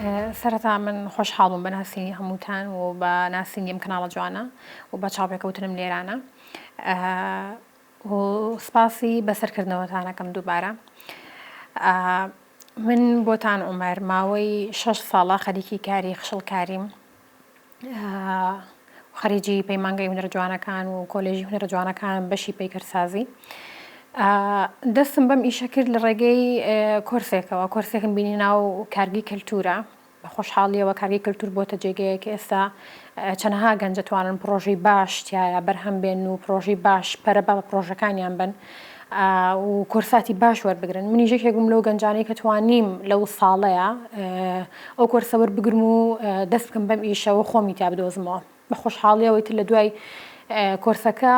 سەرەتا من خۆشحاڵ بووم بە ناسینی هەمووتان و بە ناسینی ئەم کەناڵە جوانە و بە چاوپێکەوتنم لێرانە و سپاسی بەسەرکردنەوەتانەکەم دووبارە من بۆتان عومەر ماوەی شەش ساڵە خەریکی کاری خشڵکاریم و خەریجی پەیمانگەی هونەرە جوانەکان و کۆلێژی هونەرە جوانەکانم بەشی پەیکەرسازی دەستم بەم ئیشە کرد لە ڕێگەی کۆرسێکەوە کۆرسێکم بینی ناو کارگی کەلتورە بە خۆشحاڵیەوە کارگی کەلتور بۆتە جێگەیە کە ئێستا چەنەها گەنجەتوانن پرۆژەی باش تایە بەرهەم بێن و پرۆژەی باش پەرە بە پرۆژەکانیان بن و کۆرساتی باش وەربگرن منیش یەکێک بووم لەو گەنجانەی کە توانیم لەو ساڵەیە ئەو کۆرسە وەربگرم و دەست بکەم بەم ئیشەوە خۆمی تیا بدۆزمەوە بە خۆشحاڵیەوەی تر لە دوای کۆرسەکە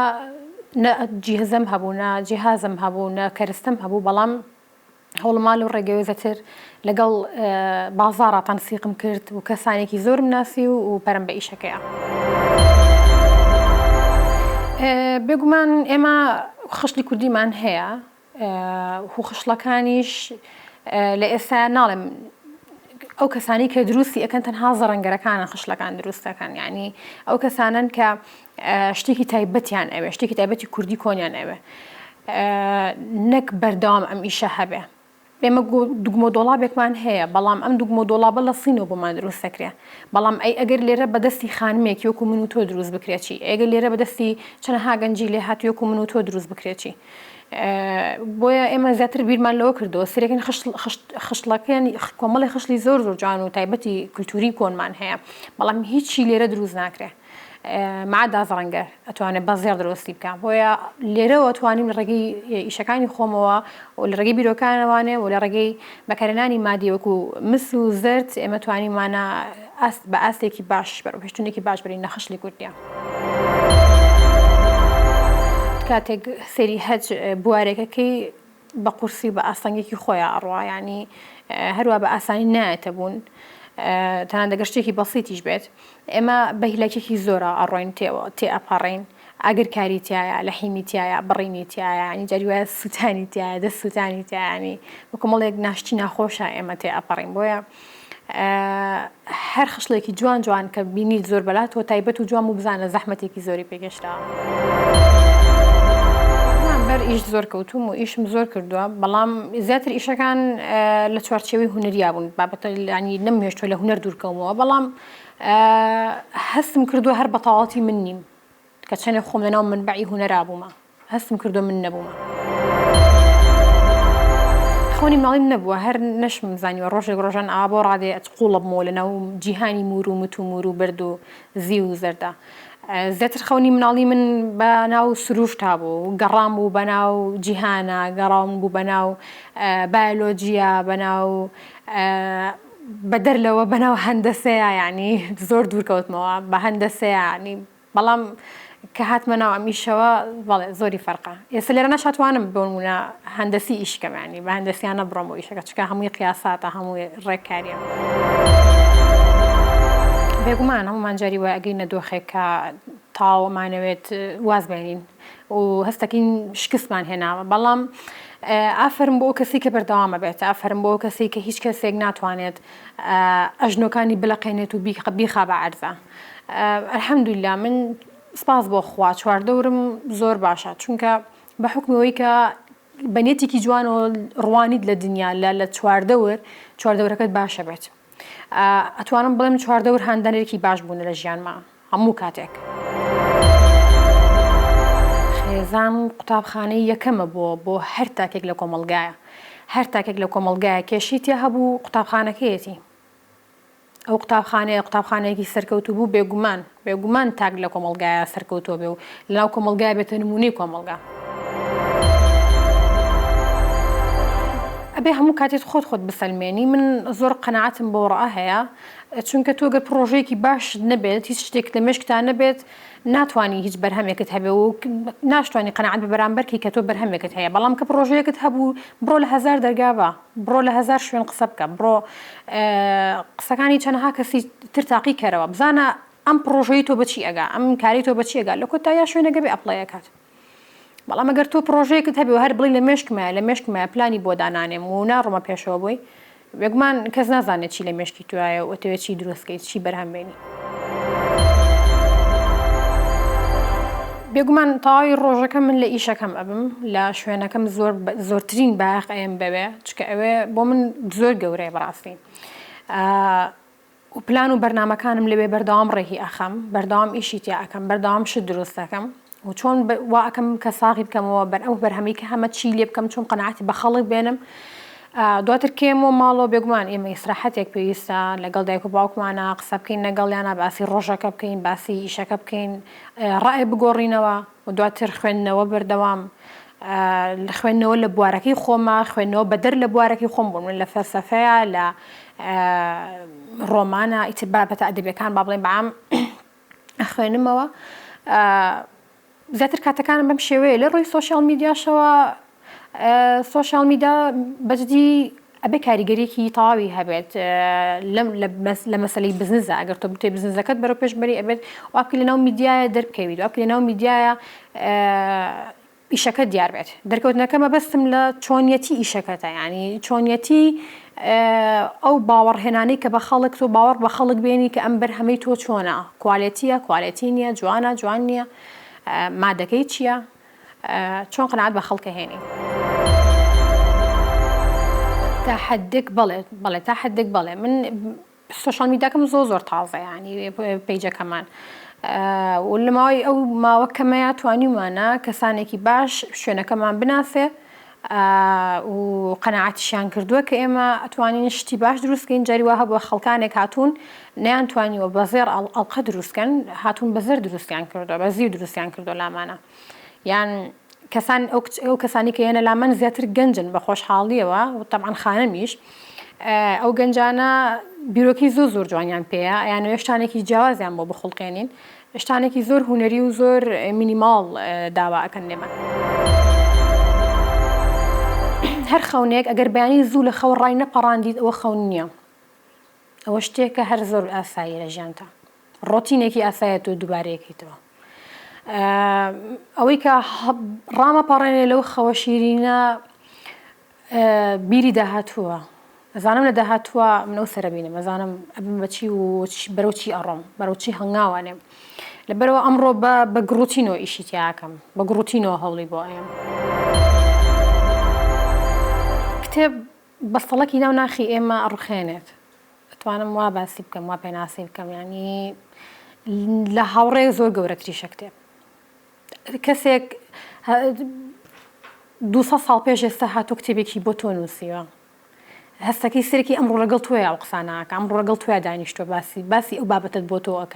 نە جیهزم هەبوو نە جیهازم هەبوو نە کەرستەم هەبوو بەڵام هەوڵمال و ڕێگەوێزەتر لەگەڵ بازاڕا تەنسیقم کرد و کەسانێکی زۆرم ناسی و و پەرم بە ئیشەکەیە. بێگومان ئێمە خشتی کوردیمان هەیە و خشڵەکانیش لە ئێستا ناڵێم ئەو کەسانی کە دروستی ئەەکەن تەنها زەڕەنگەرەکانە خشلەکان دروستەکان یعنی ئەو کەسانن کە شتێکی تایبەتیان ئەوێ شتێکی تایبەتی کوردی کۆنیان ئەوێ نەک بەردەوام ئەم ئیشە هەبێ ئێمە دوگمۆ دۆڵابێکمان هەیە بەڵام ئەم دوگمۆ دۆڵابە لە سینۆ بۆمان دروست دەکرێت بەڵام ئەی ئەگەر لێرە بەدەستی خانمێک یۆکو من و تۆ دروست بکرێتی ئەگە لێرە بەدەستی چەنەها گەنجی لێ هات یۆکو من و تۆ دروست بکرێتی بۆیە ئێمە زیاتر بیرمان لەوە کردەوە سرێکن خشتڵەکەیان کۆمەڵی خشتی زۆر زۆر جوان و تایبەتی کللتوری کۆنمان هەیە بەڵام هیچی لێرە دروست ناکرێت مەعاد ئازەڕەنگەر ئەتوانێت بە زێڕ دروستی بکە بۆیە لێرەوە توانیم لە ڕێگەی ئیشەکانی خۆمەوە و لە ڕێگەی بیرۆکانەوانێ و لە ڕێگەی بەکارێنانی مادی وەکو مس و زرد ئێمە توانیمانە ئاست بە ئاستێکی باش بەرەو پێشتونێکی باش بەرین نەخشلی کوردە. کاتێک سری هەج بوارێکەکەی بە قورسی و بە ئاستەنگێکی خۆیا ئەڕوا یانی هەروا بە ئاسانی نایەتە بوون تەنان دەگەر شتێکی بەسیتیش بێت ئێمە بەهیلاکێکی زۆرە ئەڕۆین تێوە تێ ئەپەڕین ئەگر کاری تایە لە حیمی تایە بڕینی تایە ینی جاری وایە سووتانی تایە دە سووتانی تایانی وکۆمەڵێک ناشتی ناخۆشە ئێمە تێ ئەپەڕین بۆیە هەر خشڵێکی جوان جوان کە بینیت زۆر بەلا تۆ تایبەت و جوان و بزانە زەحمەتێکی زۆری پێگەشتەوە بەر ئیش زۆر کەوتوم و ئیشم زۆر کردووە بەڵام زیاتر ئیشەکان لە چوارچێوی هوەریا بوون بابەتە لانی نەم هێشتوە لە هوەر دوورکەومەوە بەڵام هەستم کردووە هەر بەتەواتی من نیم کە چەنێ خۆم لەناو مەنبەعی هونەرا بوومە. هەستم کردووە من نەبوومە. خەونی مناڵیم نەبووە، هەر نەشم زانیوە ڕۆژێک ڕۆژان ئاوا بۆ ڕادەیە ئەچ قووڵە بمەوە لەناو جیهانی موور و مت و موور و بەرد و زیو و زەردە. زیاتر خەونی مناڵی من بە ناو سرووشتا بوو، گەڕان بوو بە ناو جیهانا، گەڕاون بوو بە ناو بایۆلۆجیا، بە ناو بە دەر لەوە بە ناو هەندەسەیا یانی زۆر دوور کەوتمەوە بە هەندەسەیا یانی بەڵام کە هاتمە ناو ئەم ئیشەوە بەڵێ زۆری فەرقە ئێستا لێرە نەشاتوانم بۆ نمونە هەندەسی ئیش کەم یانی بە هەندەسیانە بڕۆم بۆ ئیشەکە چکە هەمووی قیاساتە هەمووی ڕێککاریە. بێگومان هەموومان جاری وایە ئەگەینە دۆخێک کە تەواو ئەمانەوێت واز بێنین و هەست دەکەین شکستمان هێناوە بەڵام ئافرم بۆ کەسی کە بەردەوامە بێت ئافرم بۆ کەسی کە هیچ کەسێک ناتوانێت ئەژنۆکانی بلەقێنێت و بیخا بە عەرزا الحمدللە من سپاس بۆ خوا چواردەورم زۆر باشە چونکە بە حکمی ئەوەی کە بە نێتێکی جوانەوە ڕوانیت لە دنیا لە لە چواردەور چواردەورەکەت باشە بێت ئەتوانم بڵێم چواردەور هاندەرێکی باش بوون لە ژیانما هەموو کاتێک. خێزان قوتابخانەی یەکەمە بۆ بۆ هەر تاکێک لە کۆمەڵگایە هەر تاکێک لە کۆمەڵگایە کێشی تیا هەبوو قوتابخانەکەیەتی ئەو قوتابخانەیە قوتابخانەیەکی سەرکەوتوو بوو، بێگومان، بێگومان تاک لە کۆمەڵگایە سەرکەوتووە بێ و لەناو کۆمەڵگایە بێتە نموونەی کۆمەڵگا. ئەبێ هەموو کاتێت خۆت خۆت بسەلمێنی، من زۆر قەناعەتم بەو ڕەئە هەیە، چونکە تۆ گەر پڕۆژەیەکی باشت نەبێت، هیچ شتێکت لە مێشکتا نەبێت، ناتوانی هیچ بەرهەمێکت هەبێ و ناشتوانی قەناعەت بە بەرامبەر کەی کە تۆ بەرهەمێکت هەیە، بەڵام کە پڕۆژەیەکت هەبوو، بڕۆ لە هەزار دەرگا با، بڕۆ لە هەزار شوێن قسە بکە بڕۆ قسەکانی چەنەها کەسی تر تاقی کەرەوە بزانە ئەم پڕۆژەی تۆ بەچی ئەگا ئەم کاری تۆ بەچی ئەگا لە کۆتا یا شوێنەکە بێ ئەپڵای ئەکات بەڵام ئەگەر تۆ پڕۆژەیەکت هەبێ هەر بڵی لە مێشکمە لە مێشکمە پلانی بۆ دانانێم و ناڕۆمە پێشەوە بۆی بێگومان کەس نازانێت چی لە مێشکی توایە و ئەتەوێت چی دروستکەیت چی بەرهەمبێنی بێگومان تەواوی ڕۆژەکە من لە ئیشەکەم ئەبم لە شوێنەکەم زۆر زۆرترین باخ ئەم بەوێ چکە ئەوێ بۆ من زۆر گەورەیە بەڕاستی و پلان و بەرنمەکانم لەوێ بەردەوام ڕێهی ئەخەم بەردەوام ئیشی تیا ئەەکەم بەردەوام شت دروستەکەم و چۆن وا ئەکەم کە ساغی بکەمەوە بەر ئەو بەرهەمەی کە هەمە چی لێ بکەم چۆن قەناعەتی بە خەڵک بێنم دواتر کێمەوە ماڵەوە بێگومان ئێمە ئیسراحەتێک پێویستە لەگەڵ دایک و باوکمانە قسە بکەین لەگەڵیانە باسی ڕۆژەکە بکەین باسی ئیشەکە بکەین ڕای بگۆڕینەوە و دواتر خوێندنەوە بەردەوام خوێندنەوە لە بوارەکەی خۆمە خوێندنەوە بەدەر لە بوارەکەی خۆم بوون من لە فەلسەفەیە لە ڕۆمانە ئیتر بابەتە ئەدەبیەکان با بڵێن بەعام ئەخوێنمەوە زیاتر کاتەکانم بەم شێوەیە لە ڕووی سوۆشال میدیاشەوە سوۆشال میدا بەجدی ئەبێ کاریگەریکی تەواوی هەبێت لەم لە مەسلی بزنزە ئەگەر تۆ بتێ بزنزەکەت بەرە پێشبەری ئەبێت واپی لەناو میدیایە دەرکەویت واپی لەناو میدیایە ئیشەکەت دیار بێت دەرکەوتنەکە مەبەستم لە چۆنیەتی ئیشەکەتە یانی چۆنیەتی ئەو باوەڕهێنانەی کە بە خەڵک تۆ باوەڕ بە خەڵک بێنی کە ئەم بەرهەمەی تۆ چۆنە کوالێتیە کوالێتی نییە جوانە جوان نییە مادەکەی چییە چۆن قەنات بە خەڵکە هێنی تا حدێک بڵێت بڵێ تا حدێک بڵێ من سۆشیال میداکەم زۆر زۆر تازە یانی پەیجەکەمان لە ماوەی ئەو ماوە کەمەیە توانیمانە کەسانێکی باش شوێنەکەمان بناسێ و قەنەعاتیشیان کردووە کە ئێمە ئەتوانین شتی باش دروستکەین جاریوە هەبووە خەڵکانێک هاتوون نیان توانیوە بە زێر ئەڵقە دروستکەن هاتوون بە زەر دروستیان کردو بە زیو دروستیان کردو لامانە یان کەسان ئەو کەسانی کە یەنە لامن زیاتر گەنجن بە خۆشحاڵیەوە و تەبعەن خانمیش ئەو گەنجانە بیرۆکی زۆر زۆر جوانیان پێەیە یان شتانێکی جیاوازیان بۆ بخڵقێنین شتانێکی زۆر هوەری و زۆر مینیماڵ داوا ئەەکەن لێمان. هەر خەونێک ئەگەر بەیانی زوو لە خەو ڕای نەپەڕاندیت ئەوە خەون نییە ئەوە شتێکە هەر زۆر ئاسایی لە ژیانتا ڕۆتینێکی ئاسایەت و دووبارەیەکەیتەوە ئەوەی کە ڕامە پاڕێنێ لەو خەوە شیرینە بیری داهاتووە ئەزانم لە داهاتووە منەو سەربینم ئەزانم ئەبم بەچی و بەرەوچی ئەڕۆم بەرەوچی هەنگاوانێم لەبەرەوە ئەمڕۆ بە بە گڕوتینەوە ئیشی تیاکەم بە گڕوتینەوە هەوڵی بۆ ئەم کتێب بەستەڵەکی ناو ناخی ئێمە ئەڕوخێنێت ئەتوانم وا باسی بکەم وا پێناسی بکەم یانی لە هاوڕێ زۆر گەورەتریشە کتێب کەسێک دو ساڵ پێش ئێستا هاتو کتێبێکی بۆ تۆ نووسیوە هەستەکەی سەرکی ئەم ڕۆڵەگەڵ توێ ئەو قسانەکە ئەم ڕۆگەڵ توێ دانیشتۆ باسی باسی ئەو بابەتت بۆ تۆ ئەک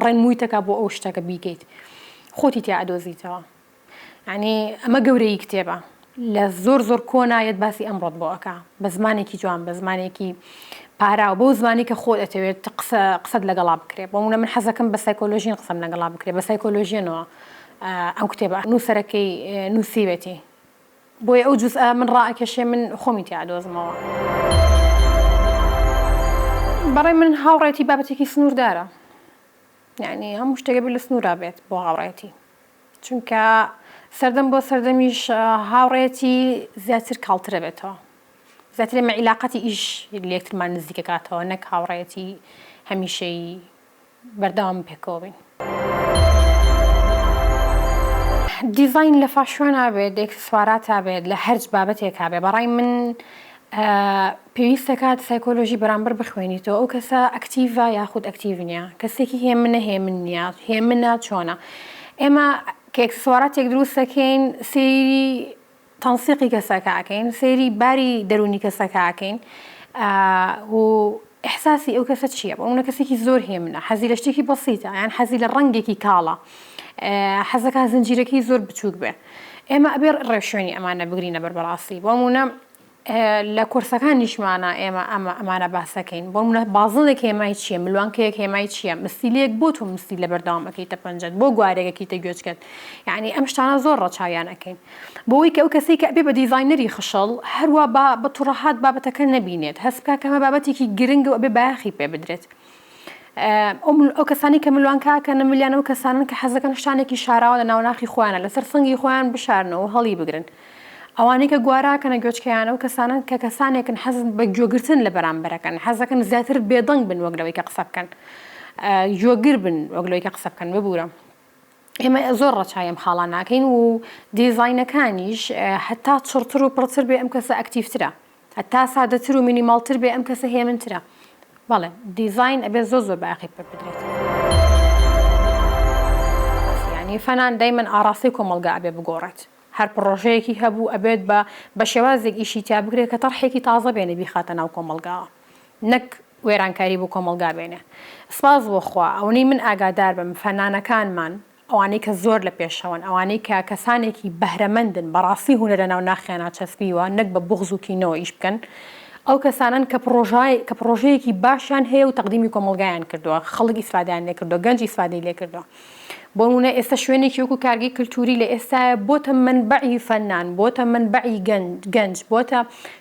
ڕێنمویتەکە بۆ ئەو شتەکە بیکەیت خۆتی تیا ئەدۆزیتەوە یەعنی ئەمە گەورەیی کتێبە لە زۆر زۆر کۆنا یەت باسی ئەمڕۆت بۆ ئەکا بە زمانێکی جوان بە زمانێکی پاراو بەو زمانی کە خۆت ئەتەوێت قسە قسەت لەگەڵا بکرێ بۆ منە من حەزەکەم بە سایکۆلۆژین قسەم لەگەڵا بکرێ بە سایکۆلۆژیەنەوە ئەم کتێبە نووسەرەکەی نووسیوێتی بۆیە ئەو جوزئە من ڕائکێشێ من خۆمی تیا دۆزمەوە بەڕێ من هاوڕێتی بابەتێکی سنووردارە یعنی هەموو شتێکە بێت لە سنوورا بێت بۆ هاوڕێتی چونکە سەردەم بۆ سەردەمیش هاوڕێیەتی زیاتر کاڵترە بێتەوە زیاتر ئێمە عیلاقەتی ئیش لەکترمان نزیکەکاتەوە نەک هاوڕێەتی هەمیشەی بەردەوام پێکەوە بین. دیزین لە فاشۆن نابێت دێک سوارات تا بێت لە هەرج بابەتێک کابێ بەڕای من پێویست دەکات سایکۆلۆژی بەرامبەر بخوێنیتەوە، ئەو کەسە ئەکتیڤە یاخود ئەکتیڤ نییە، کەسێکی هێمنە هێمن نییە، هێمنە چۆنە. ئێمە کە ئێکسسواراتێک دروست دەکەین سەیری تەنسیقی کەسەکە ئەکەین، سەیری باری دەروونی کەسەکە ئەکەین و ئیحساسی ئەو کەسە چییە، بۆ نموونە کەسێکی زۆر هێمنە حەزی لە شتێکی بەسیتە یان حەزی لە ڕەنگێکی کاڵە، حەز دەکات زنجیرەکەی زۆر بچووک بێ، ئێمە ئەبێ ڕێوشوێنی ئەمانە بگرینە بەر بەڕاستی، بۆ نموونە لە کۆرسەکانیشمانا ئێمە ئەمانە باسەکەین بۆ منە بازڵێک هێمای چییە ملوانکەیەک هێمای چییە مستیلەیەک بۆ تۆ مستی لە بەردەوام ئەەکەیتە پەنجەت بۆ گوارێکەکەیتە گوێچکەت یعنی ئەم شتانە زۆر ڕەچاویان ئەەکەین بۆی کە ئەو کەسی کە ئەبێ بە دیزینەری خشەڵ هەروە بە بە توڕەهات بابەتەکە نەبینێت هەست بکە کەمە بابەتێکی گرنگ و ئەبێ بایەخی پێ بدرێت ئەو کەسانەی کە ملوان کاکەنە ملیان ئەو کەسانن کە حەزەکەن شتانێکی شاراوە لە ناوناخی خۆیانە لەسەر سنگی خۆیان بشارنەوە هەڵی بگرن ئەوانەی کە گواراکەنە گوێچکەیان ئەو کەسانن کە کەسانێکن حەزن بە گوێگرتن لە بەرامبەرەکەن حەزەکەن زیاتر بێدەنگ بن وەک لەوەی کە قسە بکەن گوێگر بن وەک لەوەی کە قسە بکەن ببوورە ئێمە زۆر ڕەچای ئەم خاڵان ناکەین و دیزینەکانیش هەتا چڕتر و پڕتر بێ ئەم کەسە ئەکتیفترە هەتا سادەتر و مینیماڵتر بێ ئەم کەسە هێمنترە بەڵێ دیزاین ئەبێ زۆ زۆر باقی پێ بدرێت ینی فەنان دایمەن ئاراستەی کۆمەلگا ئەبێ بگۆڕێت هەر پڕۆژەیەکی هەبوو ئەبێت بە بە شێوازێک ئیشی تیا بگرێت کە تەڕحێکی تازە بێنێ بیخاتە ناو کۆمەلگاوە نەک وێرانکاری بۆ کۆمەلگا بێنێ سپاس بۆ خوا ئەونەی من ئاگادار بم فەنانەکانمان ئەوانەی کە زۆر لە پێشەوەن، ئەوانەی کە کەسانێکی بەهرەمەندن، بەڕاستی هونەرە ناو ناخیانا چەسپیوە، نەک بە بوغز و کینەوە ئیش بکەن. ئەو کەسانەن کە پڕۆژای کە پڕۆژەیەکی باشیان هەیە و تەقدیمی کۆمەڵگایان کردووە، خەڵک ئیسفادەیان لێ کردووە، گەنج ئیسفادەی لێ کردووە. بۆ نموونە ئێستا شوێنێکی وەکوو کارگەی کلتووری لە ئێستایە بۆتە مەنبەعی فەنان، بۆتە مەنبەعی گەنج، بۆتە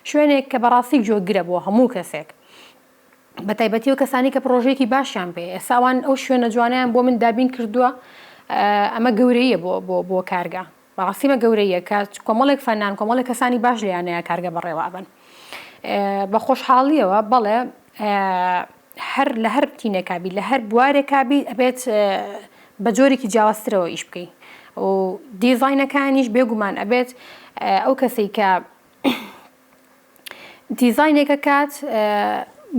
شوێنێک کە بەڕاستی جۆگرە بۆ هەموو کەسێک. بەتایبەتی ئەو کەسانەی کە پڕۆژەیەکی باشیان پێ ئێستا ئەوان ئەو شوێنە جوانیان بۆ من دابین کردووە ئەمە گەورەیە بۆ بۆ بۆ کارگە بەڕاستیمە گەورەیە کە کۆمەڵێک فەنان کۆمەڵی کەسانی باش لیانەیە کارگە بەڕێوابن بە خۆشحاڵیەوە بەڵێ هەر لە هەر تینێکابی لە هەر بوارێکابی ئەبێت بە جۆرێکی جیاوازترەوە ئیش بکەین و دیزینەکانیش بێگومان ئەبێت ئەو کەسی کە دیزاینێک ئەکات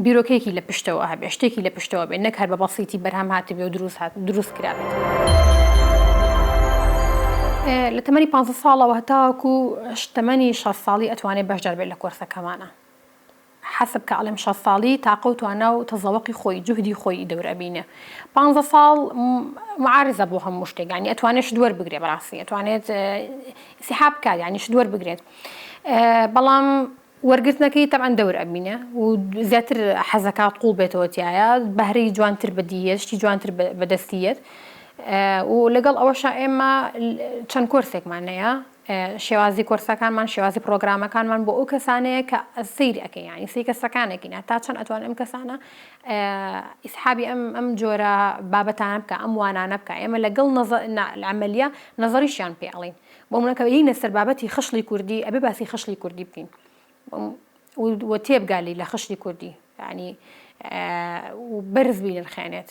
بیرۆکەیەکی لە پشتەوە هەبێ شتێکی لە پشتەوە بێ نەک هەر بە بەسیتی بەرهەم هاتبێ و دروست هات دروست کرابێت. لە تەمەنی 15 ساڵەوە هەتاوەکو تەمەنی 6 ساڵی ئەتوانێت بەشدار بێت لە کۆرسەکەمانە حەسب کە ئەڵێم 6 ساڵی تاقە و توانا و تەزەوەقی خۆی جوهدی خۆی دەور ئەبینێ 15 ساڵ معارزە بۆ هەموو شتێکانی ئەتوانێت شت وەربگرێ بەڕاستی ئەتوانێت سیحاب کار ینی شت وەربگرێت بەڵام وەرگرتنەکەی تەبعەن دەور ئەبینێ و زیاتر حەزەکات قوڵ بێتەوە تایە بەهرەی جوانتر بەدیە شتی جوانتر بەدەستیەت و لەگەڵ ئەوەشا ئێمە چەند کۆرسێکمان نەیە شێوازی کۆرسەکانمان شێوازی پرۆگرامەکانمان بۆ ئەو کەسانەیە کە سیر ئەەکە ینی سی کەسەکانەکەینە تا چەند ئەتوان ئەم کەسانە ئیسحابی ئەم ئەم جۆرە بابەتانە بکە ئەم وانانە بکە ئێمە لەگەڵ نەزە لەعملیە نەزەریشیان پێڵین بۆ منە کە یینە سەر بابەتی خشڵی کوردی ئەبێ باسی خشڵی کوردی بکەین و تێبگالی لە خشتی کوردی ینی بەرز بینرخێنێت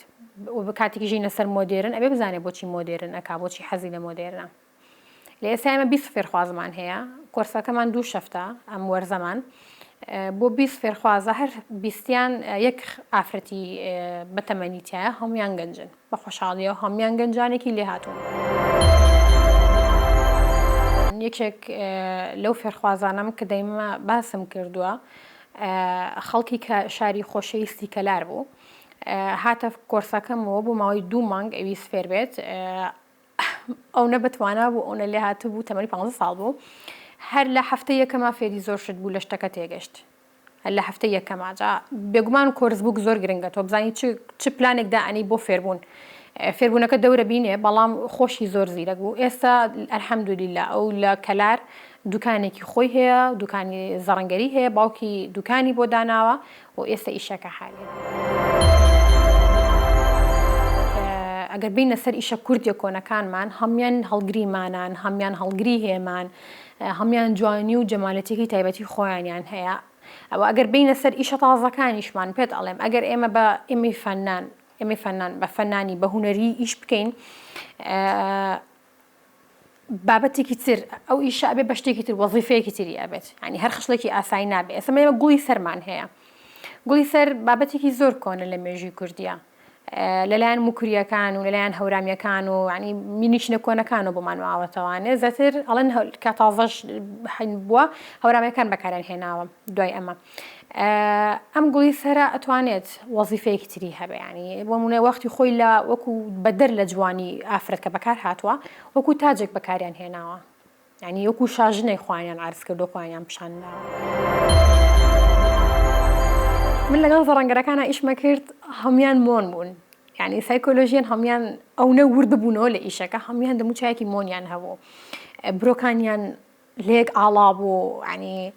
و بە کاتێکی ژینە سەر مۆدێرن ئەبێ بزانێ بۆچی مۆدێرن ئەک بۆچی حەزی لە مۆدێرنە لە ئێستا ئمە بیست فێرخوازمان هەیە کۆرسەکەمان دوو شەفتە ئەم وەرزەمان بۆ بیست فێرخوازە هەر بیستیان یەک ئافرەتی بەتەمەنی تایە هەمویان گەنجن بە خۆشحاڵیەوە هەموان گەنجانێکی لێهاتوون. یەکێک لەو فێرخوازانەم کە دەیمە باسم کردووە خەڵکی کە شاری خۆشەویستی کەلار بوو هاتە کۆرسەکەمەوە بۆ ماوەی دوو مانگ ئەویست فێر بێت ئەو نە بەتوانا بوو ئەو نە لێ هاتبوو تەمەری پ ساڵ بوو هەر لە هەفتە یەکەما فێری زۆر شت بوو لە شتەکە تێگەشت لە هەفتەی یەکەما جا بێگومان کۆرس بووک زۆر گرنگە تۆ بزانی چ چ پلانێک دائەنی بۆ فێربوون فێربوونەکە دەورە بینێ بەڵام خۆشی زۆر زیرەک بوو ئێستا ئەلحەمدولیلا ئەو لە کەلار دوکانێکی خۆی هەیە دوکانی زەڕنگەری هەیە باوکی دوکانی بۆ داناوە و ئێستا ئیشەکە حالی ئەگەر بینە سەر ئیشە کوردیە کۆنەکانمان هەمان هەڵگریمانان هەمان هەڵگری هێمان هەموان جوانی و جەمالەتیەکی تایبەتی خۆیانیان هەیە ئەوە ئەگەر بینە سەر ئیشە تازەکانیشمان پێت ئەڵێم ئەگەر ئێمە بە ئێمەی فەنان ئێمەی فەنان بە فەنانی بە هوەری ئیش بکەین بابەتێکی تر ئەو ئیشە ئەبێ بە شتێکی تر وەزیفەیەکی تری ئەبێت ینی هەر خشتێکی ئاسایی نابێ ئێسمەمە گوڵی سەرمان هەیە گوڵی سەر بابەتێکی زۆر کۆنە لە مێژوی کوردیا لەلایەن موکریەکان و لەلایەن هەورامیەکان و ینی مینیچنە کۆنەکانەوە بۆمان ماوەتەوانێ زەتر ئەڵەن کە تازەش بووە هەورامیەکان بەکارێن هێناوە دوای ئەمە ئەم گوڵی سەرە ئەتوانێت وەزیفەیەکی تری هەبیانی بۆ منە وەختی خۆی لە وەکو بەدەر لە جوانی ئافرەت کە بەکار هاتووە وەکو تاجێک بەکاریان هێناوە یانی وەکو شاژنێک خوانیان عرز کرد و خوانیان پیشان من لەگەڵ زەڕەنگەرەکانە ئیشمە کرد هەموان مۆن بوون یعنی سایکۆلۆژیان هەموان ئەونە ورد بوونەوە لە ئیشەکە هەموان دەموچایەکی مۆنیان هەبوو برۆکانیان لێک ئاڵا بوو ینی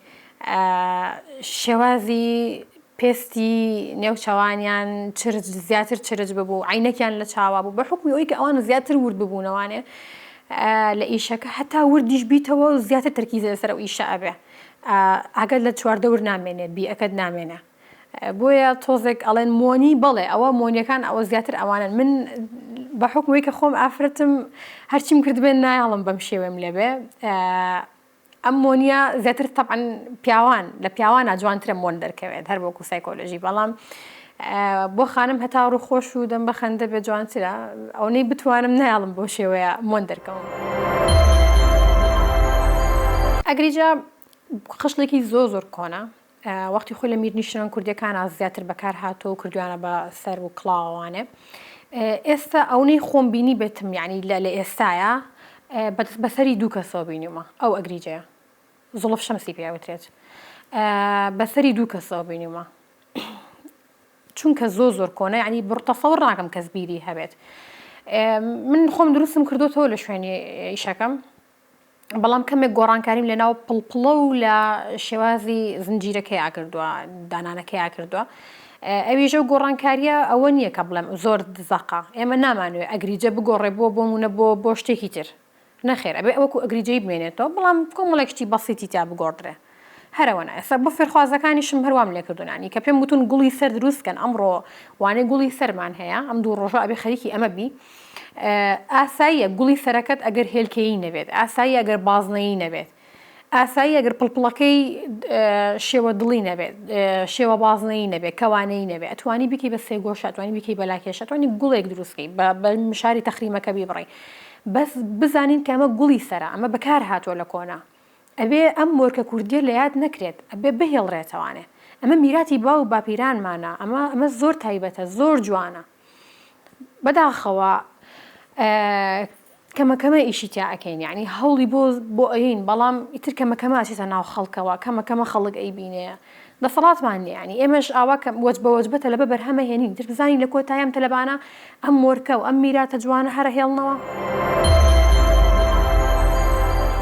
شێوازی پێستی نێو چاوانیان چرج زیاتر چرج ببوو عینەکیان لە چاوا بوو بە حکومی ئەوی کە ئەوان زیاتر ورد ببوونەوانێ لە ئیشەکە هەتا وردیش بیتەوە و زیاتر تەرکیزە لەسەر ئەو ئیشە ئەبێ ئاگەر لە چواردەور نامێنێ بیەکەت نامێنێ بۆیە تۆزێک ئەڵێن مۆنی بەڵێ ئەوە مۆنیەکان ئەوە زیاتر ئەوانن من بە حکومی کە خۆم ئافرەتم هەرچیم کردبێن نایاڵم بەم شێوێم لێبێ ئەم مۆنیە زیاتر تەبعەن پیاوان لە پیاوانە جوانترە مۆن دەرکەوێت هەر بۆکو سایکۆلۆژی بەڵام بۆ خانم هەتا ڕوو خۆش و دەم بە خەندە بێ جوانترە ئەونەی بتوانم نایڵم بۆ شێوەیە مۆن دەرکەوم ئەگریجە خشتێکی زۆر زۆر کۆنە وەختی خۆی لە میرنیشنان کوردەکانا زیاتر بەکار هاتووە و کردویانە بە سەر و کڵاوانێ ئێستا ئەونەی خۆم بینی بێتم یعنی لە لە ئێستاە بەسەری دوو کەسەوە بینیمە ئەو ئەگریجەیە زڵف شەمسی پێوترێت بەسەری دوو کەسەوە بینیمە چونکە زۆ زۆر کۆنە ینی بڕتەسەوە ڕاکەم کەس بیری هەبێت من خۆم دروستم کردوتەوە لە شوێنی ئیشەکەم بەڵام کەمێک گۆڕانکاریم لەناو پڵپڵە و لە شێوازی زنجیرەکەیا کردووە دانانەکەیا کردووە ئەویژە و گۆڕانکاریە ئەوە نییە کە بڵێم زۆر دزەقا ئێمە نامانوێ ئەگریجە بگۆڕێ بووە بۆ مونە بۆ بۆ شتێکی تر نەخێر ئەبێ ئەوەکو ئەگریجەی بمێنێتەوە بەڵام کۆمەڵێک شتی بەسیتی تا بگۆڕدرێ هەرەوەن ئێستا بۆ فێرخوازەکانیشم هەر وام لێکردونانی کە پێم وتون گوڵی سەر دروست کەن ئەمڕۆ وانەی گوڵی سەرمان هەیە ئەم دوو ڕۆژە ئەبێ خەریکی ئەمە بی ئاساییە گوڵی سەرەکەت ئەگەر هێلکەیی نەبێت ئاسایی ئەگەر بازنەیی نەبێت ئاسایی ئەگەر پڵپڵەکەی شێوە دڵی نەبێت شێوە بازنەی نەبێت کەوانەی نەبێت ئەتوانی بکی بە سێگۆشتوانی بکی بەلاکێشتوانی گوڵێک دروستکەی بە مشاری تەخریمەکە بیبڕی بەس بزانین کە ئەمە گوڵی سەرە ئەمە بەکار هاتووە لە کۆنا ئەبێ ئەم مۆرکە کوردیە لە یاد نەکرێت ئەبێ بهیڵرێتەوانێ ئەمە میراتی باو و باپیرانمانە ئەمە ئەمە زۆر تایبەتە زۆر جوانە بەداخەوە کەمە کەمە ئیشی تیا ئەکەین یعنی هەوڵی بۆ بۆ ئەین بەڵام ئیتر کەمە کەمە ئەچێتە ناو خەڵکەوە کەمە کەمە خەڵک ئەی بینەیە دەسەڵاتمان نیە یانی ئێمەش ئاوا کە وەجبە وەجبە تەلەبە بەرهەمە هێنین تر بزانین لە کۆتایی ئەم تەلەبانە ئەم مۆرکە و ئەم میراتە جوانە هەرە هێڵنەوە.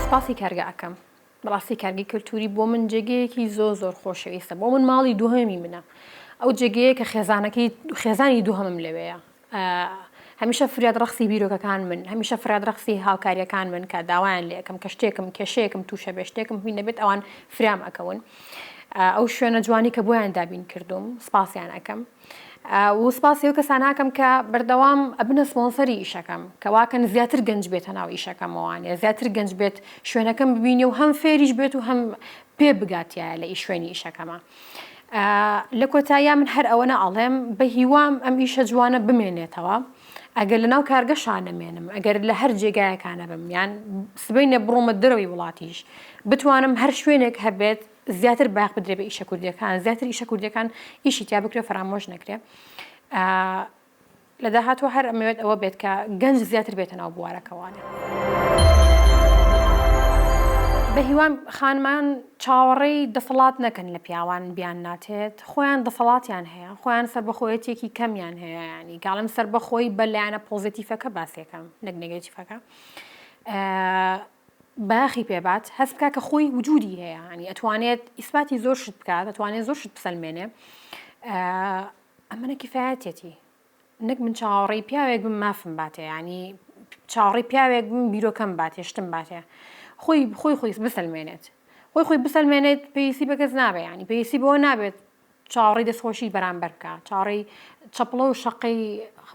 سپاسی کارگە ئەکەم بەڕاستی کارگەی کەلتوری بۆ من جێگەیەکی زۆر زۆر خۆشەویستە بۆ من ماڵی دووهەمی منە ئەو جێگەیە کە خێزانەکەی خێزانی دووهەمم لەوێیە هەمیشە فریاد ڕەخسی بیرۆکەکان من هەمیشە فریاد ڕەخسی هاوکاریەکان من کە داوایان لەکەم کە شتێکم کێشەیەکم تووشە بێ شتێکم هوی نەبێت ئەوان فرام ئەکەون ئەو شوێنە جوانی کە بۆیان دابین کردوم سپاسیان ئەەکەم و سپاسی و کەساناکەم کە بەردەوام ئەبنە سپۆنسەری ئیشەکەم کەواکەن زیاتر گەنج بێتە ناو ئیشەکەمەوانە زیاتر گەنج بێت شوێنەکەم ببینی و هەم فێریش بێت و هەم پێ بگاتیایە لە ئیشوێنی ئیشەکەمان. لە کۆتاییا من هەر ئەوەنە ئەڵێم بە هیوام ئەم ئیشە جوانە بمێنێتەوە ئەگەر لە ناو کارگەشانە مێنم ئەگەر لە هەر جێگایەکانە بم یان سبینە بڕۆمە دەرەوەی وڵاتیش بتوانم هەر شوێنێک هەبێت زیاتر باخ بدرێ بە ئیشە کوردەکان زیاتر ئیشە کوردەکان ئیشی تیا بکرێ فەرامۆش نەکرێ لە داهاتووە هەر ئەمەوێت ئەوە بێت کە گەنج زیاتر بێتە ناو بوارەکەوانێ. بەهیوام خانمان چاوەڕێی دەسەڵات نەکەن لە پیاوان بیان ناتێت خۆیان دەسەڵاتیان هەیە خۆیان سربەخۆیەتێکی کەمیان هەیە ینی گاڵم سربەخۆی بە لایەنە پۆزیتیفەکە باسێکەم نەک نگەتیفەکە باخی پێبات هەست بکە کە خۆی وجودی هەیە ینی ئەتوانێت ئیسپاتی زۆر شت بکات دەتوانێت زۆر شت بسەلمێنێ ئەمنە کفایەتیەتی نەک من چاوەڕێی پیاوێک بم مافم باتێ ینی چاوەڕێی پیاوێک بم بیرۆکەم باتێ شتم باتێ خۆی خۆی خۆی بسەلمێنێت خۆی خۆی بسەلمێنێت پێویستی بە کەس نابێ ینی پێویستی بۆ نابێت چاوەڕێی دەستخۆشی بەرامبەر بکە چاڕێی چەپڵە و شەقەی